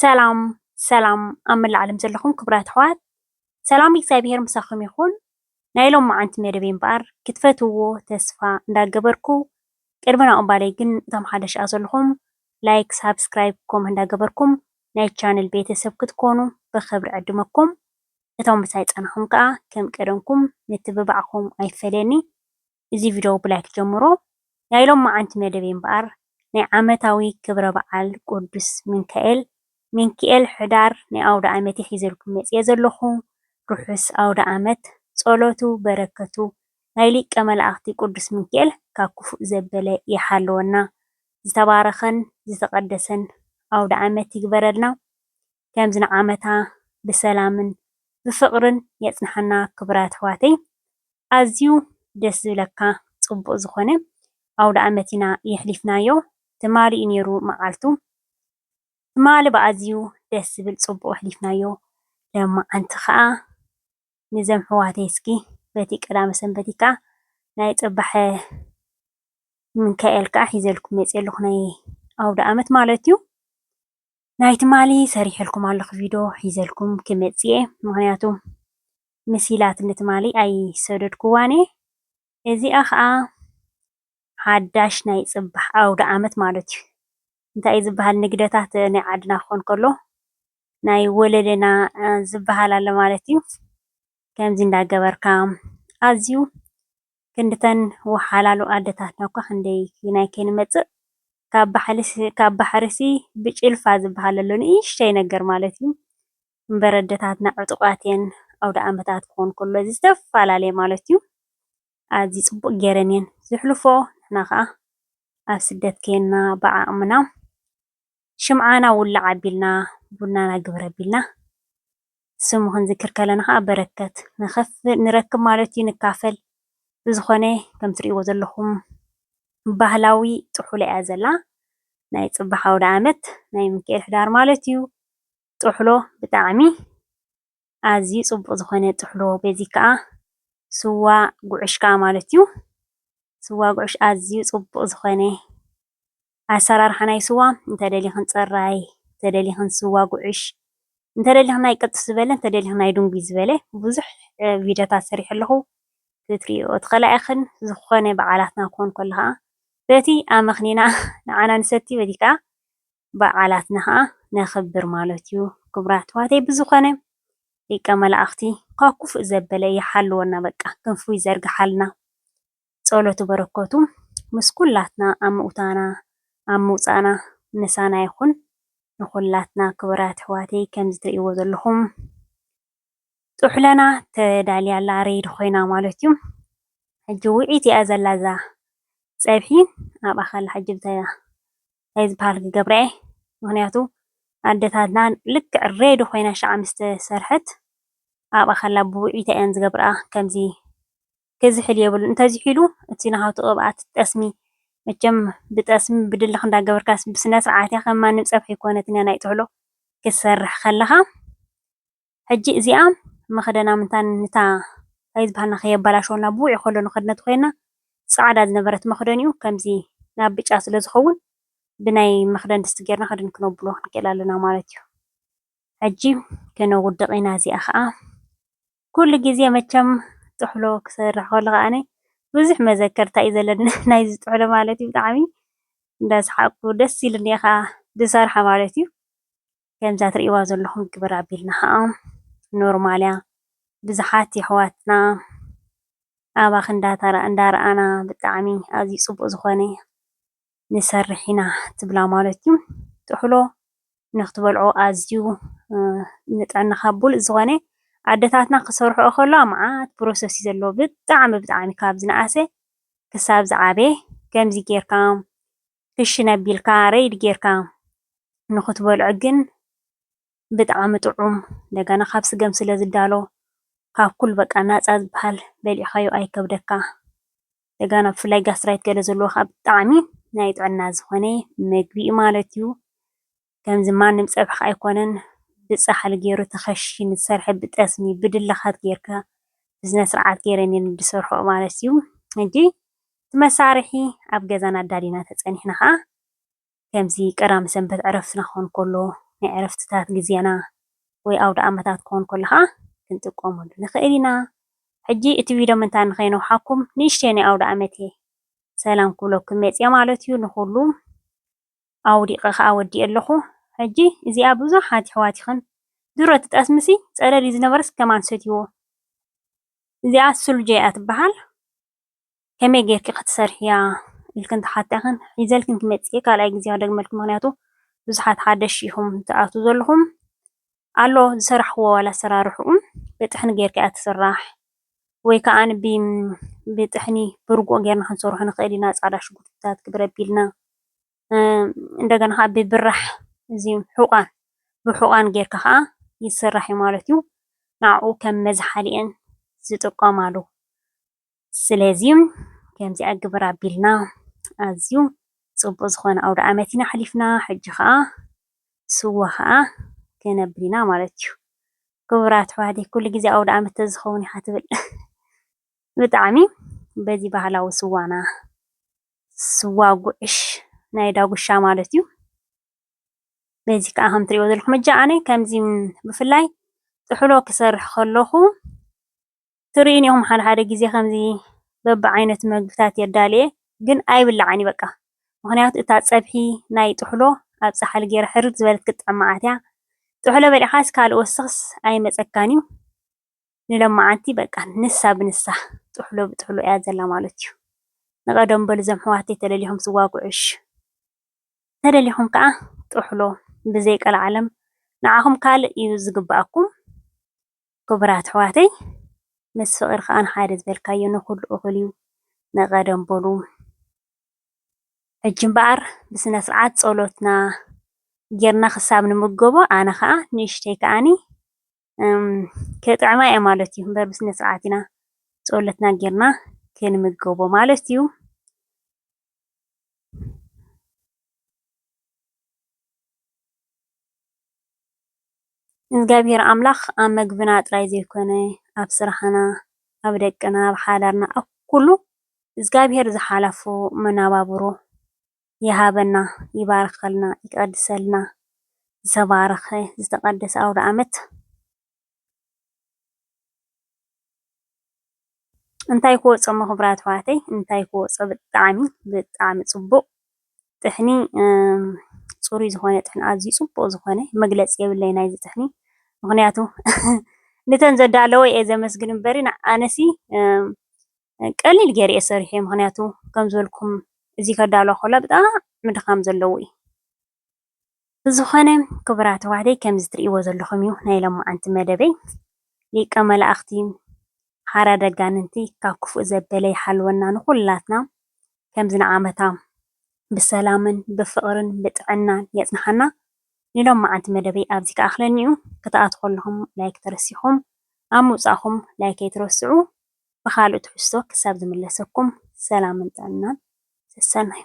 ሰላም ሰላም ኣብ መላእ ዓለም ዘለኹም ክቡራት ኣሕዋት ሰላም እግዚኣብሄር ምሳኹም ይኹን። ናይ ሎማዓንቲ መደበይ እምበኣር ክትፈትውዎ ተስፋ እንዳገበርኩ ቅድሚ ናብኡ እምባለይ ግን እቶም ሓደሽ ኣ ዘለኹም ላይክ ሳብስክራይብ ኮም እንዳገበርኩም ናይ ቻነል ቤተሰብ ክትኮኑ ብኽብሪ ዕድመኩም እቶም ምሳይ ጸናኹም ከኣ ከም ቀደምኩም ምትብባዕኩም ኣይፈለየኒ። እዚ ቪድዮ ብላይክ ጀምሮ ናይ ሎምዓንቲ መደበይ እምበኣር ናይ ዓመታዊ ክብረ በዓል ቁዱስ ምንካኤል Minkiel ሕዳር ናይ ኣውደኣመት እየ ሒዘልኩም መጺኤ ዘለኹ ርሑስ ኣውደኣመት ጸሎቱ በረከቱ ናይ ሊቀ መላእክቲ ቁዱስ ምንኪኤል ካብ ክፉእ ዘበለ ይሓልወና ዝተባረኸን ዝተቀደሰን ኣውደኣመት ይግበረልና ከምዚ ንዓመታ ብሰላምን ብፍቅርን የጽንሓና ክቡራት ኣሕዋተይ ኣዝዩ ደስ ዝብለካ ጽቡቅ ዝኮነ ኣውዳኣመት ኢና የሕሊፍናዮ ትማሊ እዩ ኔሩ መዓልቱ ትማሊ ብኣዝዩ ደስ ዝብል ጽቡቅ ኣሕሊፍናዮ ለማዓንቲ ከኣ ንዘም ኣሕዋተይ እስኪ በቲ ቀዳመ ሰንበቲ ከኣ ናይ ጽባሐ ምካኤል ከኣ ሒዘልኩም መጽየ ኣለኩ ናይ ኣውዳኣመት ማለት እዩ ናይ ትማሊ ሰሪሐልኩም ኣለኹ ቪድዮ ሒዘልኩም ክመጽእ እየ ምክንያቱ ምሲላት ንትማሊ ኣይሰደድኩዋን እየ እዚኣ ከዓ ሓዳሽ ናይ ጽባሕ ኣውደ ዓመት ማለት እዩ እንታይ ዝበሃል ንግደታት ናይ ዓድና ክኾን ከሎ ናይ ወለደና ዝበሃል ኣሎ ማለት እዩ ከምዚ እንዳገበርካ ኣዝዩ ክንድተን ወሓላሉ ኣደታትና እኳ ክንደይ ኪናይ ከይንመጽእ ካብ ባሕልሲ ካብ ባሕርሲ ብጭልፋ ዝብሃል ኣሎ ንእሽተይ ነገር ማለት እዩ እምበር ኣደታትና ዕጡቃት እየን ኣውደኣመታት ክኾን ከሎ ዝተፈላለየ ማለት እዩ ኣዝዩ ጽቡቅ ጌረን እየን ዝሕልፎኦ ንሕና ከኣ ኣብ ስደት ኬንና ብዓቅምና ሽምዓና ውላዕ ኣቢልና ቡናና ግብር ኣቢልና ስሙ ክንዝክር ከለና ከዓ በረከት ንረክብ ማለት እዩ፣ ንካፈል። ብዝኾነ ከም ትሪእዎ ዘለኹም ባህላዊ ጥሑሎ እያ ዘላ። ናይ ፅባሕ ኣውደኣመት ናይ ምንክኤል ሕዳር ማለት እዩ። ጥሕሎ ብጣዕሚ ኣዝዩ ፅቡቕ ዝኾነ ጥሕሎ በዚ ከዓ ስዋ ጉዕሽ ከዓ ማለት እዩ። ስዋ ጉዕሽ ኣዝዩ ፅቡቕ ዝኾነ ኣሰራርሓ ናይ ስዋ እንተደሊኽን ፅራይ እንተደሊኽን ስዋ ጉዕሽ እንተደሊኽን ናይ ቅጥስ ዝበለ እንተደሊኽን ናይ ድንጉይ ዝበለ ብዙሕ ቪድዮታት ሰሪሐ ኣለኹ ክትሪኦ ትኽእላ ኢኽን ዝኾነ በዓላትና ክኾን ከሎ ከዓ በቲ ኣመኽኒና ንዓና ንሰቲ በቲ ከዓ በዓላትና ከዓ ነኽብር ማለት እዩ ክቡራት ኣሕዋተይ ብዝኾነ ሊቀ መላእኽቲ ካብ ክፉእ ዘበለ ይሓልወና በቃ ክንፉ ይዘርግሓልና ጸሎቱ በረከቱ ምስ ኩላትና ኣብ ምውታና ኣብ ምውጻእና ምሳና ይኩን ንኩላትና ክቡራት ኣሕዋተይ ከምዚ ትርእይዎ ዘለኩም ጥሑለና ተዳልያ ኣላ ሬዲ ኮይና ማለት እዩ ሕጂ ውዒት እያ ዘላ እዛ ጸብሒ ኣብኣ ከላ ሕጂ ብታ እንታይ ዝበሃል ክገብራ እየ ምክንያቱ ኣደታትና ልክዕ ሬዲ ኮይና ሸዓ ምስ ተሰርሐት ኣብኣ ከላ ብውዒታ እየን ዝገብርኣ ከምዚ ክዝሕል የብሉን እንተዚሒሉ እቲ ናሃቱ ቅብኣት ጠስሚ መቸም ብጠስሚ ብድልክ እንዳገበርካ ብስነስርዓት ከም ማንም ፀብሒ ኣይኮነትን እያ ናይ ጥሕሎ ክትሰርሕ ከለካ ሕጂ እዚኣ መክደና ምንታን ንታ ታይ ዝበሃልና ከየበላሸወና ብውዕይ ከሎ ንከድነ ተኮይና ፃዕዳ ዝነበረት መክደኒኡ ከምዚ ናብ ብጫ ስለ ዝከውን ብናይ መክደን ድስቲ ገይርና ከድን ክነብሎ ክንክእል ኣለና ማለት እዩ ሕጂ ክነውድቅ ኢና እዚኣ ከዓ ኩሉ ግዜ መቸም ጥሕሎ ክሰርሕ ከለኩ ኣነ ብዙሕ መዘከርታ እዩ ዘለኒ ናይዚ ጥሕሎ ማለት እዩ ብጣዕሚ እንዳሰሓቅኩ ደስ ኢሉኒ እየ ከዓ ዝሰርሓ ማለት እዩ ከምዛ ትሪእዋ ዘለኩም ግብር ኣቢልና ከዓ ኖርማል እያ ብዙሓት የሕዋትና ኣባኪ እንዳረኣና ብጣዕሚ ኣዝዩ ፅቡቅ ዝኮነ ንሰርሕ ኢና ትብላ ማለት እዩ። ጥሕሎ ንክትበልዖ ኣዝዩ ንጥዕናኻ ብሉፅ ዝኾነ ኣደታትና ክሰርሕኦ ከለዋ መዓት ፕሮሰስ እዩ ዘለዎ ብጣዕሚ ብጣዕሚ ካብ ዝነኣሰ ክሳብ ዝዓበየ ከምዚ ጌርካ ክሽን ኣቢልካ ረይድ ጌርካ ንክትበልዖ ግን ብጣዕሚ ጥዑም እንደገና ካብ ስገም ስለዝዳሎ ካብ ኩሉ በቃ ናፃ ዝበሃል በሊዕኻዮ ኣይከብደካ። ጀጋኑ ብፍላይ ጋስትራይት ገለ ዘለዎ ከኣ ብጣዕሚ ናይ ጥዕና ዝኾነ መግቢ እዩ ማለት እዩ። ከምዚ ማንም ፀብሒ ከኣ ኣይኮነን ብፃሕሊ ገይሩ ተኸሺኑ ዝሰርሐ ብጠስሚ ብድልኻት ገይርካ ብስነ ስርዓት ገይረን እየን ዝሰርሕኦ ማለት እዩ። ሕጂ እቲ መሳርሒ ኣብ ገዛና ኣዳሊና ተፀኒሕና ከኣ ከምዚ ቀዳም ሰንበት ዕረፍትና ክኾን ከሎ፣ ናይ ዕረፍትታት ግዜና ወይ ኣውደኣመታት ክኾን ከሎ ከኣ ክንጥቀመሉ ንኽእል ኢና። ሕጂ እቲ ቪድዮ ምንታይ ንኸይነውሓኩም ንእሽተይ ናይ ኣውደኣመት'የ ሰላም ክብለኩም መጺኣ ማለት'ዩ። ንኹሉ ኣውዲቐ ከኣ ወዲኤ ኣለኹ። ሕጂ እዚኣ ብዙሓት የሕዋትኽን ድሮ እቲ ጠስሚ'ሲ ጸለል'ዩ ዝነበረስ ከማን ሰትዩዎ። እዚኣ ሱልጆ'ያ ትበሃል። ከመይ ጌርኪ ክትሰርሕያ ኢልክ እንተሓቲኣክን ሒዘልክን ክመጽእ እየ ካልኣይ ግዜ ክደግመልክ ምክንያቱ ብዙሓት ሓደሽ ኢኩም ትኣትዉ ዘለኩም ኣሎ ዝሰራሕክዎ ዋላ ኣሰራርሕኡ ብጥሕኒ ጌርካ እያ ትስራሕ ወይ ከዓ ብጥሕኒ ብርጉኦ ጌርና ክንሰርሖ ንክእል ኢና ጻዕዳ ሽጉርትታት ክብረቢልና እንደገና ከኣ ብብራሕ እዚም ሕቛን ብሕቛን ጌርካ ኸኣ ይስራሕ እዩ ማለት እዩ። ንኣኡ ከም መዝሓሊ እየን ዝጥቀማሉ። ስለዚ ከምዚ ኣግብር ኣቢልና ኣዝዩ ጽቡቕ ዝኾነ ኣውደኣመት ኢና ኣሕሊፍና። ሕጂ ኸኣ ስዋ ኸኣ ከነብል ኢና ማለት እዩ። ክቡራት ኣሕዋተይ ኩሉ ግዜ ኣውደኣመት ተዝኸውን ኢኻ ትብል። ብጣዕሚ በዚ ባህላዊ ስዋና ስዋ ጉዕሽ ናይ ዳጉሻ ማለት እዩ። በዚ ከዓ ከም እትሪእዎ ዘለኹም እጃ ኣነ ከምዚ ብፍላይ ጥሕሎ ክሰርሕ ከለኹ ትሪኡኒ ኢኹም ሓደ ሓደ ግዜ ከምዚ በቢዓይነቱ ምግብታት የዳልየ ግን ኣይብላዕን እዩ በቃ ምኽንያቱ እታ ፀብሒ ናይ ጥሕሎ ኣብ ፃሕሊ ገይረ ሕርር ዝበለት ክትጥዕም መዓት እያ። ጥሕሎ በሊዕኻስ ካልእ ወስኽስ ኣይመፀካን እዩ። ንሎማዓንቲ በቃ ንሳ ብንሳ ጥሕሎ ብጥሕሎ እያ ዘላ ማለት እዩ ንቀደሙ በሉ ዞም ኣሕዋተይ ተለሊኩም ትዋግኡ እሺ ተለሊኩም ካዓ ጥሕሎ ብዘይ ቀላዓለም ንዓኩም ካልእ እዩ ዝግባኣኩም ክቡራት ኣሕዋተይ ምስ ፍቅሪ ካዓ ንሓደ ዝበልካዮ ንኩሉ እኩል እዩ ንቀደም በሉ ሕጂ እምበኣር ብስነስርዓት ፆሎትና ጌርና ክሳብ ንምገቦ ኣነ ካዓ ንእሽተይ ካዓኒ ከጥዕማ እየ ማለት እዩ እበር ብስነ ስርዓት ኢና ፀሎትና ጌርና ክንምገቦ ማለት እዩ። እግዚኣብሔር ኣምላኽ ኣብ መግብና ጥራይ ዘይኮነ ኣብ ስራሕና፣ ኣብ ደቅና፣ ኣብ ሓዳርና፣ ኣብ ኩሉ እግዚኣብሔር ዝሓላፎ መነባብሮ ይሃበና ይባርከልና ይቀድሰልና ዝተባረከ ዝተቀደሰ ኣውዳኣመት። እንታይ ክወጾ እሞ ክብራት ኣሕዋተይ እንታይ ክወጾ ብጣዕሚ ብጣዕሚ ጽቡቅ ጥሕኒ ጽሩይ ዝኾነ ጥሕኒ ኣዝዩ ጽቡቅ ዝኾነ መግለጺ የብለይ ናይዚ ጥሕኒ ምክንያቱ ንተን ዘዳለወ እየ ዘመስግን እምበሪ ኣነሲ ቀሊል ጌረ እየ ሰሪሐዮ ምክንያቱ ከም ዝበልኩም እዚ ከዳሎ ከሎ ብጣዕሚ ድካም ዘለዎ እዩ። ብዝኮነ ክቡራት ኣሕዋተይ ከምዚ ትሪእዎ ዘለኩም እዩ ናይ ሎማዓንቲ መደበይ ሊቀ መላእክቲ ሓራድ ኣጋንንቲ ካብ ክፉእ ዘበለ ይሓልወና ንኩላትና ከምዚ ንዓመታ ብሰላምን ብፍቅርን ብጥዕናን የፅንሓና ናይ ሎማዓንቲ መደበይ ኣብዚ ክኣክለኒ እዩ ክትኣትዉ ከለኩም ላይክ ተረሲኩም ኣብ ምውፃኩም ላይክ ኣይትረስዑ። ብኻልእ ትሕዝቶ ክሳብ ዝምለሰኩም ሰላምን ጥዕናን ሰሰናዩ።